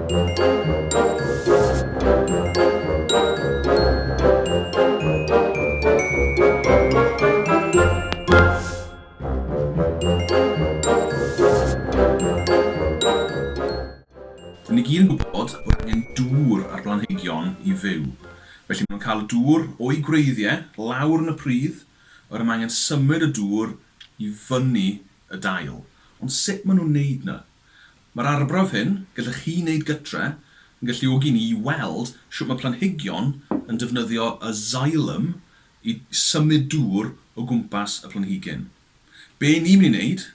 Dyn ni gyd yn gwybod bod angen dŵr ar blanhigion i fyw, felly maen nhw'n cael y dŵr o'u gwreiddiau lawr yn y pridd, a wedyn mae angen symud y dŵr i fyny y dail. Ond sut maen nhw'n wneud 'na? Mae'r arbrawf hyn, gallech chi wneud gytre, yn galluogi ni i weld sut mae planhigion yn defnyddio y xylem i symud dŵr o gwmpas y planhigyn. Be ni'n mynd i wneud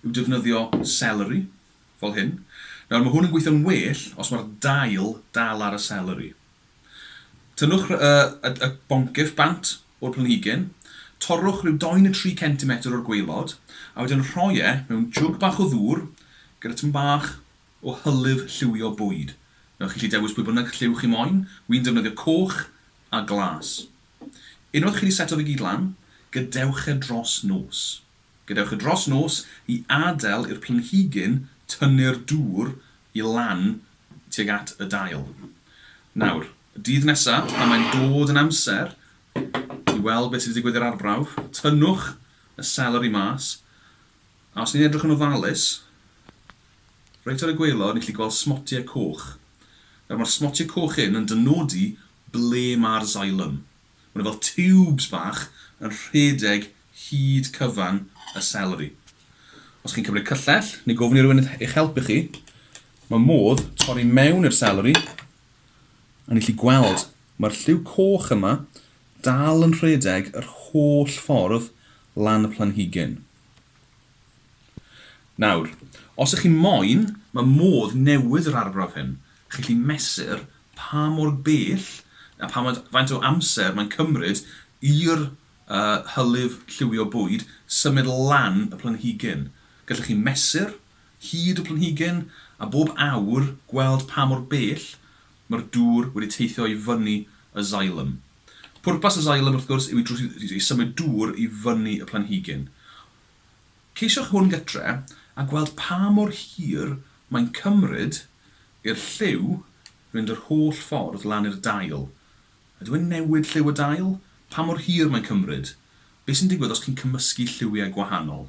yw defnyddio seleri, fel hyn. Nawr, mae hwn yn gweithio'n well os mae'r dail dal ar y seleri. Tynnwch y boncyff bant o'r planhigyn, torrwch rhyw dou neu tri centimetr o'r gwaelod, a wedyn rhoi e mewn jwg bach o ddŵr gyda tym bach o hylif lliwio bwyd. Wnewch chi allu dewis pwy bynnag lliw chi moyn, wi'n defnyddio coch a glas. Unwaith chi wedi seto fe gyd lan, gadewch e dros nos. Gadewch e dros nos i adael i'r planhigyn tynnu'r dŵr i lan tuag at y dail. Nawr, dydd nesa, pan mae'n dod yn amser i weld beth sy 'di digwydd i'r arbrawf, tynnwch y seleri mas, a os ni'n edrych yn ofalus, reit ar y gwaelod, ni'n gallu gweld smotie coch. Nawr, mae'r smotie coch hyn yn dynodi ble mae'r xylem. Maen nhw fel tiwbs bach yn rhedeg hyd cyfan y seleri. Os chi'n cymryd cyllell, neu gofyn i rywun eich helpu chi, mae modd torri mewn i'r seleri, a ni chi gweld, mae'r lliw coch yma dal yn rhedeg yr holl ffordd lan y planhigyn. Nawr, os ych chi moyn, mae modd newid yr arbrawf hyn. Chi'n gallu mesur pa mor bell a pha faint o amser mae'n cymryd i'r a hylif lliwio bwyd, symud lan y planhigyn. Gallwch chi mesur hyd y planhigyn a bob awr gweld pa mor bell mae'r dŵr wedi teithio i fyny y xylem. Pwrpas y xylem wrth gwrs yw i symud dŵr i fyny y planhigyn. Ceisiwch hwn gytre a gweld pa mor hir mae'n cymryd i'r lliw fynd yr holl ffordd lan i'r dail. Ydw i'n newid lliw y dail? Pa mor hir mae'n cymryd? Be sy'n digwydd os chi'n cymysgu lliwiau gwahanol?